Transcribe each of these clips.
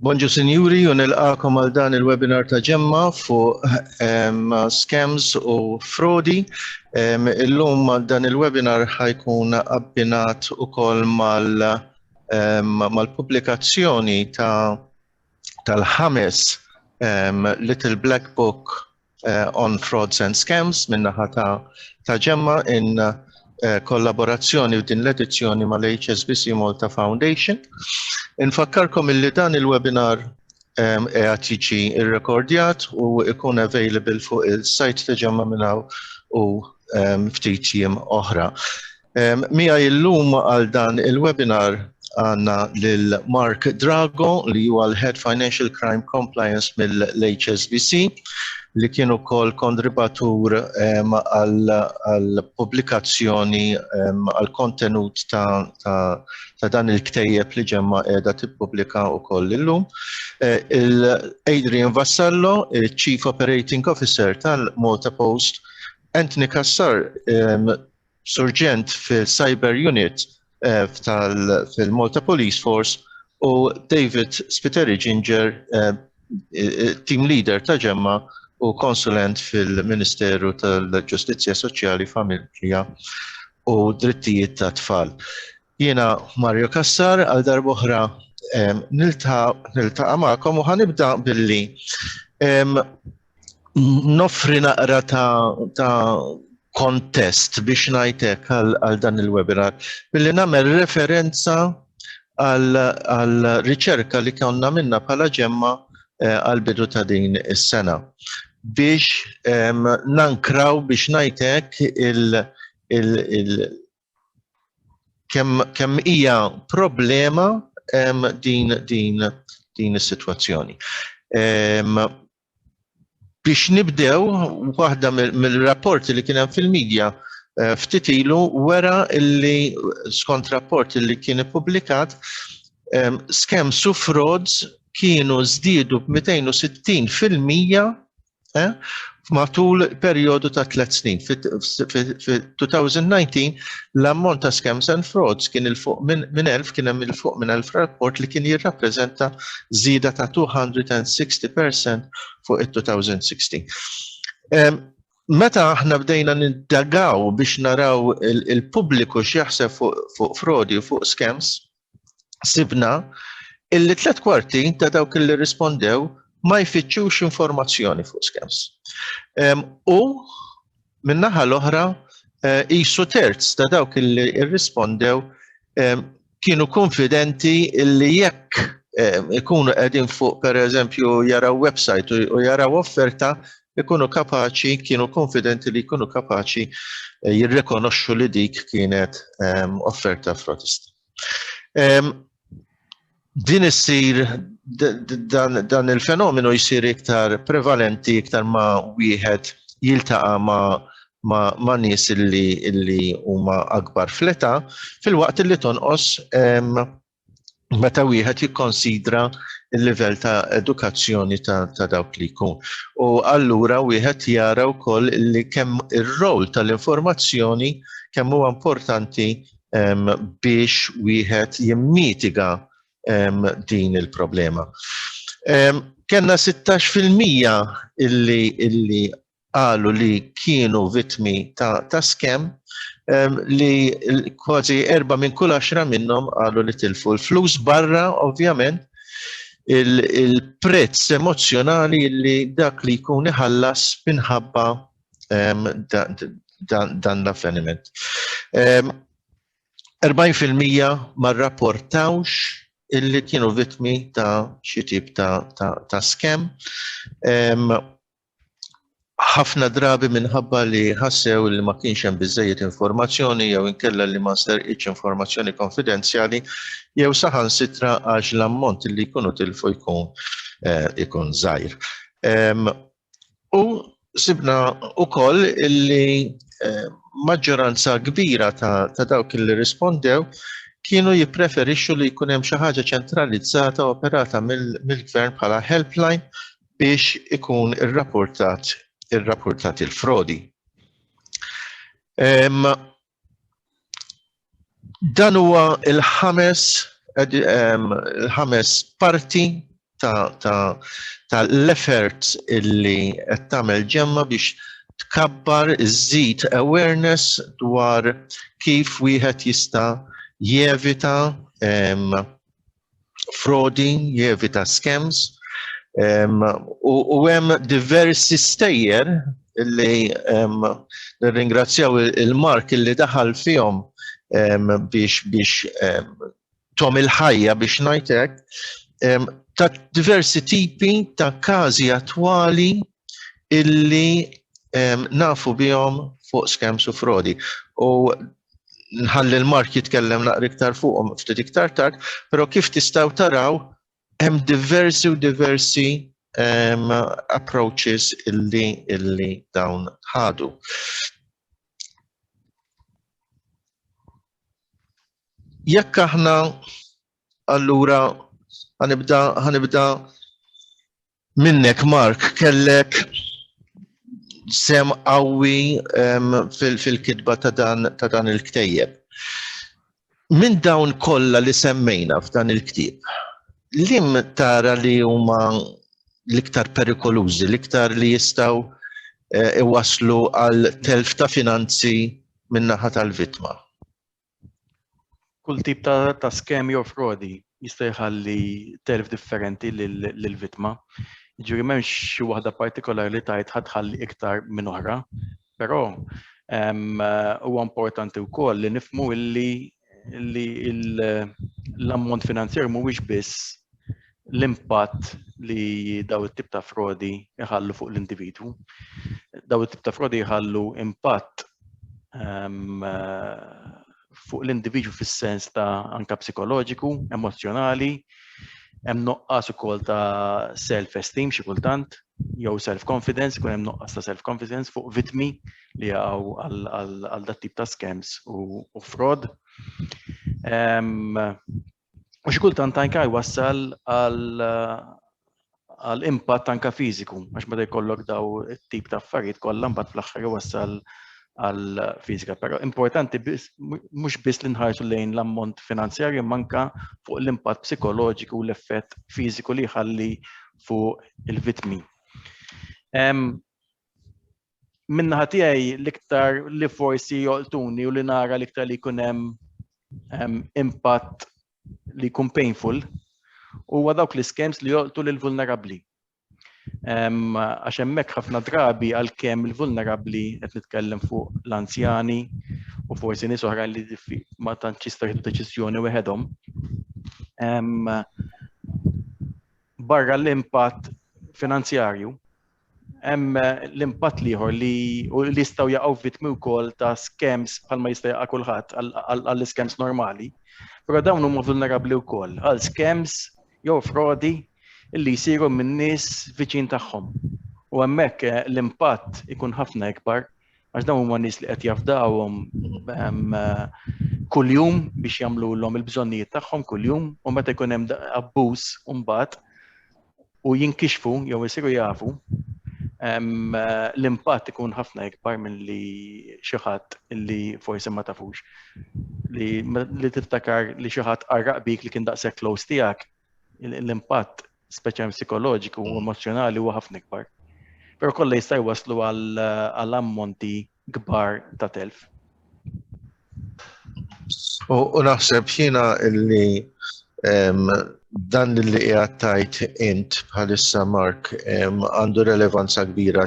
Bonġu Sinjuri u nilqakom għal dan il-webinar ta' ġemma fuq ehm, scams u frodi. Ehm, illum dan il-webinar ħajkun abbinat ukoll ehm, mal-pubblikazzjoni ta' tal-ħames Little Black Book on Frauds and Scams min-naħa ta' Ġemma in kollaborazzjoni f'din l-edizzjoni mal-HSBC Malta Foundation. Infakkarkom illi dan il-webinar qiegħed jiġi rrekordjat u jkun available fuq il-sajt ta' Ġemma minn hawn u ftit jiem oħra. Mija illum għal dan il-webinar għandna lil Mark Drago li huwa l-Head Financial Crime Compliance mill-HSBC li kien ukoll kondribatur għal pubblikazzjoni għal kontenut ta' dan il-ktejjeb li ġemma qiegħda tippubblika ukoll illum. Adrian Vassallo, Chief Operating Officer tal-Malta Post, Anthony Cassar, Surġent fil-Cyber Unit fil-Malta Police Force u David Spiteri Ginger, team leader ta' ġemma u konsulent fil-Ministeru tal-Ġustizzja Soċjali, Familja u Drittijiet tat-Tfal. Jiena Mario Cassar għal darb'oħra niltaqa' magħkom u ħanibda billi noffri naqra ta' kontest biex ngħidlek għal dan il-webinar billi nagħmel referenza għal riċerka li konna minna bħala ġemma eh, għal bidu ta' din is-sena biex nankraw biex ngħidlek kemm kemm hija problema um, din din din is-sitwazzjoni. Um, biex nibdew waħda mill-rapporti li kien hemm fil-medja eh, ftit ilu wera illi skont rapport illi kien ippubblikat um, scams u frauds kienu żdiedu b'260 fil-mija eh, matul perjodu ta' tliet snin. Fi-2019 l-ammont ta' scams and frauds kien il-fuq minn elf kien hemm il-fuq minn elf rapport li kien jirrappreżenta żieda ta' 260% fuq it-2016. Meta aħna bdejna nindagaw biex naraw il-pubbliku x'jaħseb fuq frodi u fuq scams, sibna illi tliet kwarti ta' dawk li rispondew ma jfittxux informazzjoni fuq scams. U minnaħa l-oħra jisu eh, terz ta' dawk li rispondew kienu konfidenti illi jekk ikunu qegħdin fuq per eżempju jaraw website u jaraw offerta ikunu kapaċi, kienu konfidenti li jkunu kapaċi eh, jirrekonoxxu li dik kienet ehm, offerta frotista. Ehm, din issir dan il-fenomenu jisir iktar prevalenti iktar ma wieħed jiltaqa ma ma, ma nies illi illi huma akbar fleta fil-waqt illi tonqos ehm, meta wieħed jikkonsidra l-livell ta' edukazzjoni ta', ta dawk li jkun. U allura wieħed jara wkoll li kemm ir-rol tal-informazzjoni kemm huwa importanti um, biex wieħed jimmitiga um, din il-problema. Um, Kenna 16% illi illi qalu li kienu vittmi ta', ta skem li kważi erba minn kull għaxra minnhom qalu li tilfu l-flus barra ovvjament il-prezz emozjonali li dak li jkun iħallas minħabba dan l-avveniment. 40% ma rapportawx illi kienu vittmi ta' xi tip ta', ta, ta skem ħafna drabi minħabba li ħassew li ma kienx hemm biżżejjed informazzjoni jew inkella li ma nsterqitx informazzjoni konfidenzjali jew saħansitra għax l-ammont li jkunu tilfu jkun ikun żgħir. U sibna wkoll li maġġoranza kbira ta' dawk li rispondew kienu jippreferixxu li jkun hemm xi ħaġa ċentralizzata operata mill-gvern bħala helpline biex ikun irrapportat irrapportat il-frodi. Dan huwa il-ħames il-ħames parti ta', ta, ta l-effort illi qed tagħmel ġemma biex tkabbar iżid awareness dwar kif wieħed jista' jevita frodi, jevita scams, u hemm diversi stejjer li nirringrazzjaw il-Mark li daħal fihom biex biex tom il-ħajja biex najtek ta' diversi tipi ta' każi attwali illi nafu bihom fuq scams u frodi. U nħalli l-Mark jitkellem naqra iktar fuqhom ftit iktar tard, però kif tistgħu taraw hemm diversi u diversi um, approaches illi illi dawn ħadu. Jekk aħna allura ħanibda ħanibda Minnek Mark kellek sem qawwi fil-kitba ta' dan il-ktejjeb. Minn dawn kollha li semmejna f'dan il-ktieb, liem tara li huma l-iktar perikolużi, l-iktar li jistgħu iwasslu għal telf ta' finanzi min-naħa tal-vittma? kull tip ta', ta skemi jew frodi jista' jħalli telf differenti lill-vittma. Ġifieri m'hemmx xi waħda partikolari li tajt ħadħalli iktar minn oħra, però ehm, huwa importanti wkoll li nifmu illi li l-ammont finanzjer mhuwiex biss l-impatt li daw it-tip ta' frodi jħallu fuq l-individwu. Daw it-tip ta' frodi jħallu impatt um, fuq l-individwu fis-sens ta' anka psikoloġiku, emozjonali, hemm noqqas ukoll ta' self-esteem xi kultant, jew self-confidence, kun hemm noqqas ta' self-confidence fuq vitmi li għaw għal dat tip ta' scams u fraud. U xi kultant anke jwassal għal impatt anke fiżiku, għax meta jkollok daw it-tip ta' affarijiet kollha mbagħad fl-aħħar jwassal għal fiżika. Però importanti mhux biss li nħarsu lejn l-ammont finanzjarju manka fuq l-impatt psikoloġiku u l-effett fiżiku li jħalli fuq il-vitmi. minnaħa tiegħi l-iktar li forsi joqtuni u li nara l-iktar li jkun hemm impatt li jkun painful huwa dawk l-iskems li joqtu lil vulnerabbli. Għax hemmhekk ħafna drabi għalkemm il-vulnerabbli qed nitkellem fuq l-anzjani u forsi nies oħra li ma tantx jista' jieħdu deċiżjoni weħedhom. Barra l-impatt finanzjarju, Hemm l-impatt l-ieħor li jistgħu jaqgħu vittmi wkoll ta' scams bħalma jista' jaqa' kulħadd għall-scams normali, però dawn huma vulnerabbli wkoll għal scams jew frodi li jsiru minn nies viċin tagħhom. U hemmhekk l-impatt ikun ħafna ikbar Għax dawn huma nies li qed jafdawhom ehm, kuljum biex jagħmluhom il-bżonnijiet tagħhom kuljum u meta jkun hemm abbuż mbagħad u jinkixfu jew isiru jafu ehm, l-impatt ikun ħafna ikbar minn li xi ħadd li forsi ma tafux li, li tiftakar li xi ħadd qarraq bik li kien daqshekk close tiegħek l-impatt speċjalment psikoloġiku u emozjonali huwa ħafna ikbar. Però kollha jista' jwaslu għal ammonti kbar ta' telf. U naħseb jiena illi dan li qiegħed tajt int bħalissa Mark għandu relevanza kbira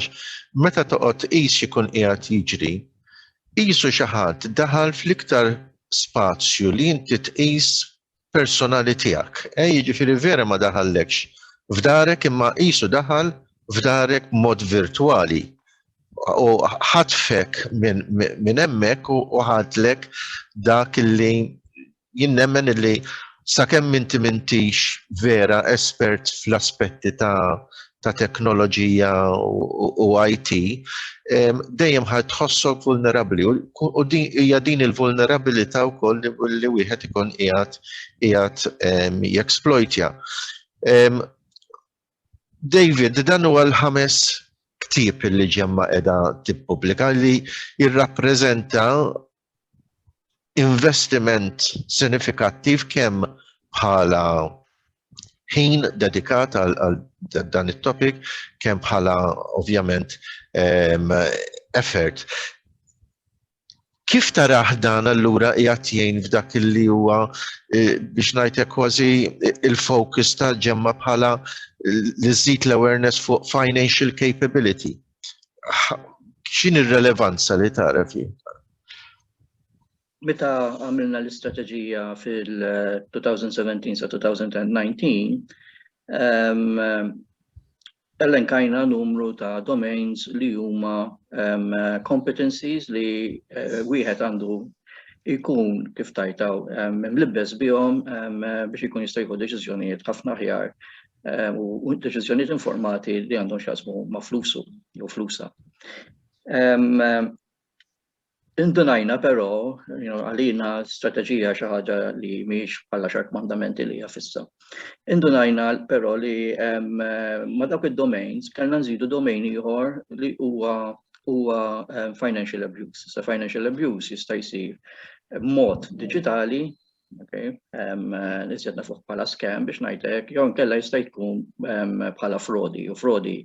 meta toqgħod qis ikun qiegħed jiġri, qisu xi ħadd daħal fl-iktar spazju li inti tqis personali tiegħek. Eh, jiġifieri vera ma daħallekx f'darek imma qisu daħal f'darek b'mod virtwali u ħatfek minn hemmhekk u ħadlek dak li jinnemmen illi sakemm inti mintix vera espert fl-aspetti ta' ta' teknoloġija u IT, dejjem ħad tħossok vulnerabli u hija din il-vulnerabilità wkoll li wieħed ikun qiegħed qiegħed jeksploitja. David, dan huwa l-ħames ktieb li ġemma qiegħda tippubblika li jirrappreżenta investiment sinifikattiv kemm bħala ħin dedikat għal dan it-topic kemm bħala ovvjament ehm, effort. Kif taraħ dan allura qiegħed jgħin f'dak li huwa e, biex ngħidlek kważi il-focus ta' ġemma bħala li żid l-awareness fuq financial capability? x'in ir-relevanza li tara fih? Meta għamilna l-istrateġija fil-2017 sa 2019, elenkajna numru ta' domains li huma competencies li eh, wieħed għandu ikun kif tajtaw mlibbes bihom biex ikun jista' jieħu deċiżjonijiet ħafna ħjar ehm, u deċiżjonijiet informati li għandhom xasmu ma' flusu jew flusa. Ehm, ehm, indunajna però għalina strateġija xi ħaġa li mhix bħala xark mandamenti li hija fissa. Indunajna però li ma' dawk id-domains kellna nżidu domain ieħor li huwa huwa financial abuse. Sa financial abuse jista' jsir mod digitali Okay. Um, Nizjed nafuħ bħala scam biex najtek, jew kella jista' tkun um, bħala frodi, u frodi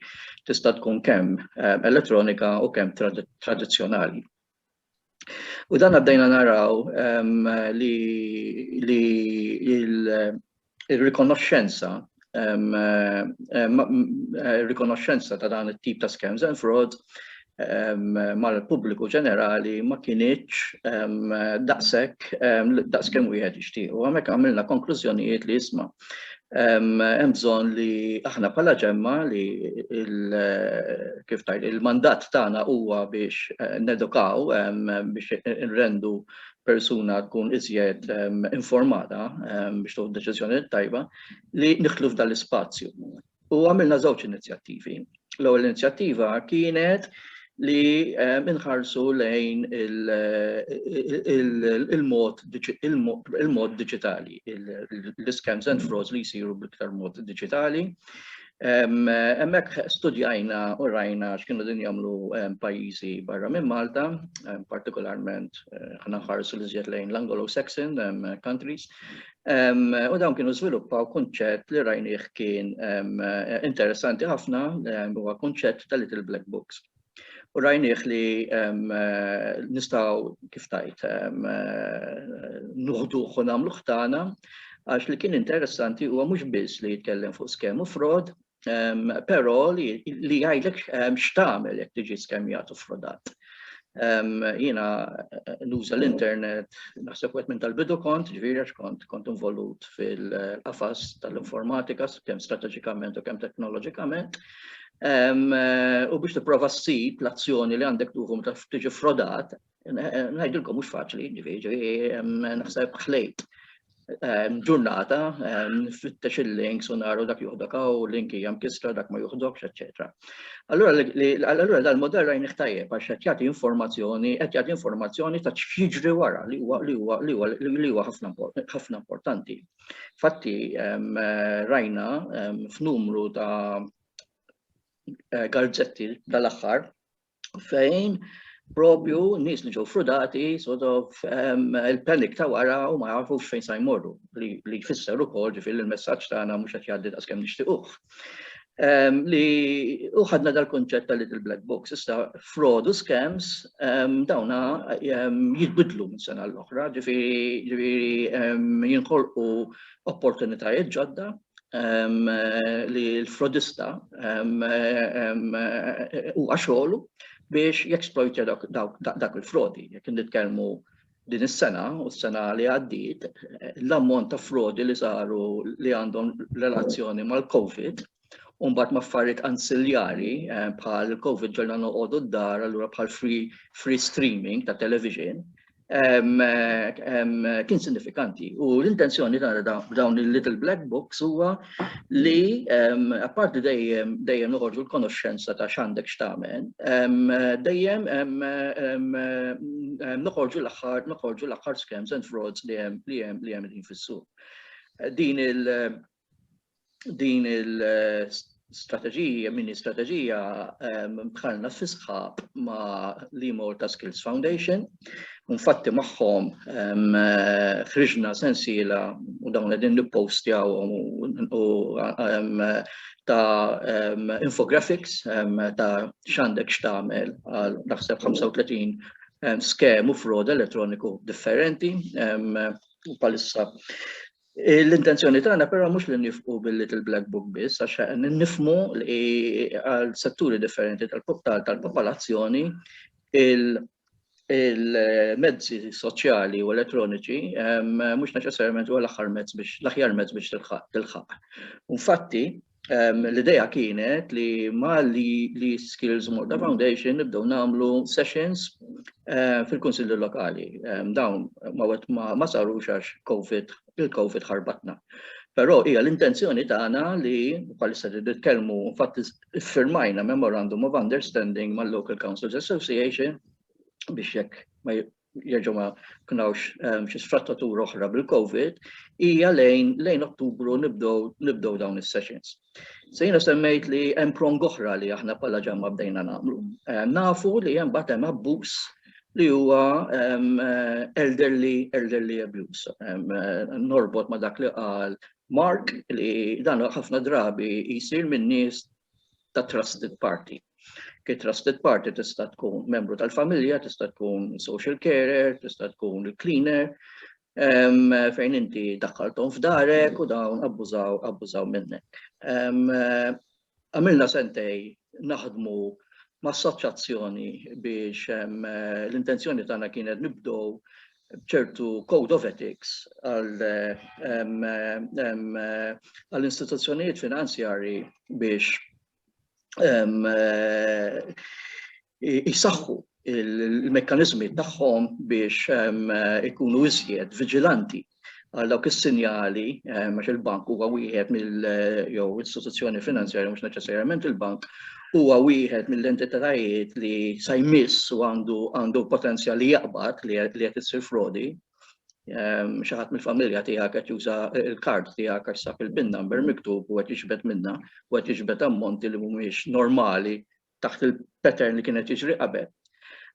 tista' tkun kemm um, elettronika u kemm trad tradizzjonali. U dan għaddejna naraw um, li, li il, ir-rikonoxxenza ir-rikonoxxenza ta' dan it-tip ta' scams and fraud mal-pubbliku ġenerali ma kienieċ daqshekk daqs kemm wieħed jixtieq. U hemmhekk għamilna konklużjonijiet li jisma' hemm bżonn li aħna bħala ġemma li kif tajt il-mandat tagħna huwa biex nedukaw biex nrendu persuna tkun iżjed informata biex tuħu deċiżjoni tajba li nidħlu f'dan l-ispazju. U għamilna żewġ inizjattivi. L-ewwel inizjattiva kienet li inħarsu lejn il-mod digitali, l-scams and frauds li jsiru bl-iktar mod digitali, Hemmhekk studjajna u rajna x'kienu din jagħmlu pajjiżi barra minn Malta, partikolarment ħna nħarsu li żjed lejn l-Anglo-Saxon countries. U dawn kienu żviluppaw kunċett li rajnieh kien interessanti ħafna huwa kunċett ta' little black books. U rajnieh li nistgħu kif tajt nuħduh u nagħmluh tagħna għax li kien interessanti huwa mhux biss li jitkellem fuq skemm u frod, però li jgħidlek x'tagħmel jekk tiġi skemmjat u frodat. Jiena nuża l-internet, naħseb wieħed minn tal-bidu kont, ġifieri għax kont kont involut fil-qafas tal-informatika kemm strateġikament u kemm teknoloġikament, U biex tipprova ssib l-azzjoni li għandek tuħu meta tiġi frodat, ngħidilkom mhux faċli, ġifieri naħseb ħlejt ġurnata fittex il-links u naru dak juħdok u link hija mkisra dak ma juħdokx, eċetera. Allura dal-modell rajni ħtajjeb għax qed jagħti informazzjoni, qed jagħti informazzjoni ta' x'jiġri wara li huwa ħafna importanti. Fatti rajna f'numru ta' eh, garzetti dal-aħħar fejn propju nis li ġew frudati sort of il-panik ta' wara u ma jafux fejn sa jmorru li jfisser ukoll ġifieri l-messaġġ tagħna mhux qed jgħaddi daqskemm nixtiequh. Ehm, li uħadna dal-konċett ta' little black box, issa fraud u scams ehm, dawna ehm, jitbidlu minn sena l-oħra, ġifiri jinħolqu opportunitajiet ġodda li l-frodista u għaxolu biex jeksploitja dak il-frodi, jek nitkellmu din is-sena u s-sena li għaddiet l-ammont ta' frodi li saru li għandhom relazzjoni mal-COVID u mbagħad ma' affarijiet ansiljari eh, bħal COVID ġolna noqogħdu d-dar allura bħal free, free streaming ta' television eh, kien sinifikanti. U l-intenzjoni ta' dawn il-Little Black Books huwa li apparti dejjem dejjem noħorġu l-konoxxenza ta' x'għandek x'tagħmel, dejjem noħorġu l-aħħar noħorġu l-aħħar scams and frauds li hemm li hemm li hemm fis-suq. Din il din il-strateġija, mini strateġija bħalna fisħab ma' l-Imorta Skills Foundation, Infatti magħhom ħriġna sensiela u dawn qegħdin nippostjaw u ta' infographics ta' x'għandek x'tagħmel għal naħseb 35 skem u frod elettroniku differenti u bħalissa L-intenzjoni tagħna però mhux li nifqu bil-Little Black Book biss għax nifmu li għal setturi differenti tal-popolazzjoni il-mezzi soċjali u elettroniċi ehm, mhux neċessarjament huwa l-aħħar mezz biex l-aħjar mezz biex tilħaq. Infatti, ehm, l-idea kienet li ma li, li Skills Malta Foundation nibdew nagħmlu sessions ehm, fil-Kunsilli Lokali. Dawn ma wet ma saru xax COVID, il-COVID ħarbatna. Però hija l-intenzjoni tagħna li bħalissa li nitkellmu infatti iffirmajna Memorandum of Understanding mal-Local Councils Association biex jekk ma jerġgħu ma kunawx ehm, xi sfrattatur oħra bil-COVID, hija lejn lejn Ottubru nibdew dawn is-sessions. Se jiena semmejt li hemm prong oħra li aħna bħala ġamma bdejna nagħmlu. Ehm, nafu li hemm bagħad hemm abbuż li huwa ehm, eh, elderly, elderly abuse. Ehm, eh, norbot ma dak li qal Mark li dan ħafna drabi jsir minn nies ta' trusted party. Ki trusted party tista' tkun membru tal-familja, tista' tkun social carer, tista' tkun il-cleaner, fejn inti daħħalthom f'darek u dawn abbużaw abbużaw minnek. Għamilna sentej naħdmu m'assoċjazzjoni biex l-intenzjoni tagħna kienet nibdew b'ċertu code of ethics għall-istituzzjonijiet finanzjarji biex jsaħħu l-mekkaniżmi tagħhom biex ikunu iżjed viġilanti għal dawk is-sinjali għax il-bank huwa wieħed mill jew istituzzjoni finanzjarja mhux neċessarjament il-bank huwa wieħed mill-entitajiet li sa jmiss u għandu għandu potenzjal li jaqbad li qed issir frodi. Xi ħadd mill-familja tiegħek qed juża l-kard tiegħek għax sab il-bin number miktub u qed jiġbed minna u qed jiġbed ammonti li mhumiex normali taħt il-pattern li kien qed jiġri qabel.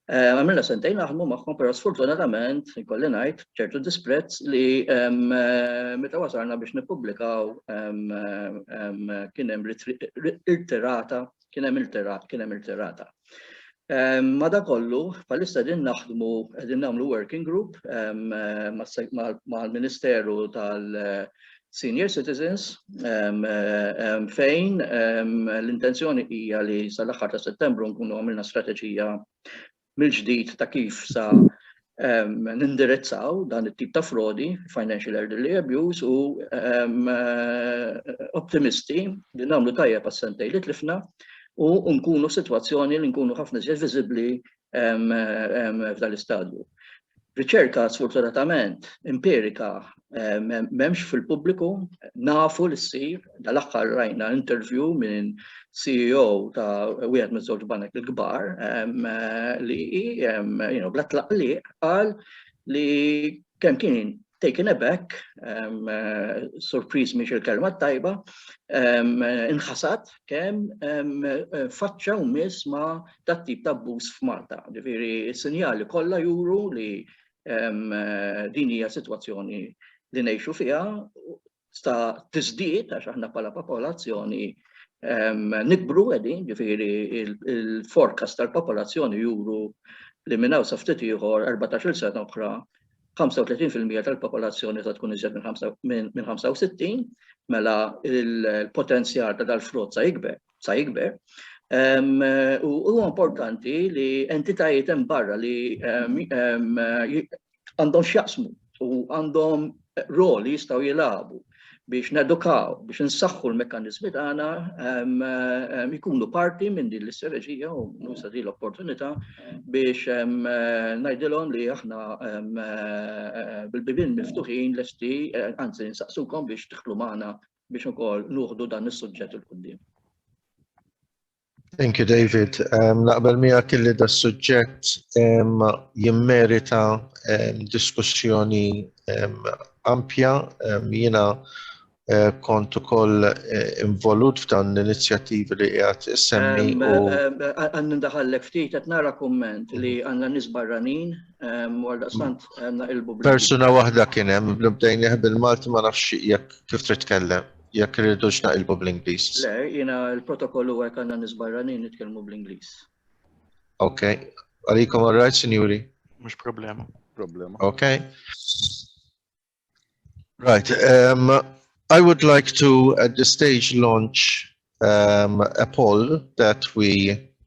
Għamilna sentejn naħdmu magħhom, però sfortunatament, ikolli ngħid, ċertu disprezz li meta wasalna biex nippubblikaw kien hemm irtirata, kien hemm irtirat, kien hemm irtirata. Madakollu, bħalissa din naħdmu, din nagħmlu working group mal-Ministeru tal- senior citizens fejn l-intenzjoni hija li sal-aħħar ta' Settembru nkunu għamilna strateġija mill-ġdid ta' kif sa nindirizzaw dan it-tip ta' frodi, financial elderly abuse, u optimisti li nagħmlu tajjeb għas-sentej li tlifna u nkunu f'sitwazzjoni li nkunu ħafna iżjed viżibbli f'dan l-istadju. Riċerka sfortunatament empirika m'hemmx fil-pubbliku, nafu li ssir, dal-aħħar rajna interview minn CEO ta' wieħed minn żewġ banek il-kbar li bla tlaqliq qal li Kemm kien taken aback, surpriż mhix il-kelma t-tajba, inħasad kemm faċċa u miss ma' tat-tip ta' abbuż f'Malta. Ġifieri s-sinjali kollha juru li din hija sitwazzjoni li ngħixu fiha sta tiżdied għax aħna bħala popolazzjoni nikbru qegħdin, ġifieri il-forecast tal-popolazzjoni juru li minn hawn sa ftit ieħor 14-il sena oħra 35% tal-popolazzjoni ta' tkun iżjed minn 65, mela il-potenzjal ta' dal-frott sa jikber, sa jikber. U huwa importanti li entitajiet hemm barra li għandhom x'jaqsmu u għandhom rol li jistgħu jilagħbu biex nedukaw, biex nsaħħu l-mekanizmi tagħna jkunu parti minn din l-istrateġija u nusa din l-opportunità biex ngħidilhom li aħna bil-bibin miftuħin lesti, eh, anzi nsaqsukom biex tħlu magħna biex ukoll nuħdu dan is-suġġett il-qudiem. Thank you, David. Um, naqbel mija kelli da suġġett um, jimmerita um, diskussjoni um, ampja. Um, jina uh, kont ukoll uh, involut f'dan l-inizjattivi li qiegħed issemmi. Għandu daħallek ftit qed nara kumment li mhm. għandna nies barranin għal daqstant għandna il-bubli. Persuna waħda kien hemm bdejn bil-Malti ma nafx jekk kif trid tkellem. Jekk irridux naqilbu bl-Ingliż. Le, jiena l-protokoll huwa jekk għandna nies barranin nitkellmu bl-Ingliż. Ok. Għalikom all right, sinjuri? Mhux problema. Problema. Ok. Right. Um, I would like to, at this stage, launch um, a poll that we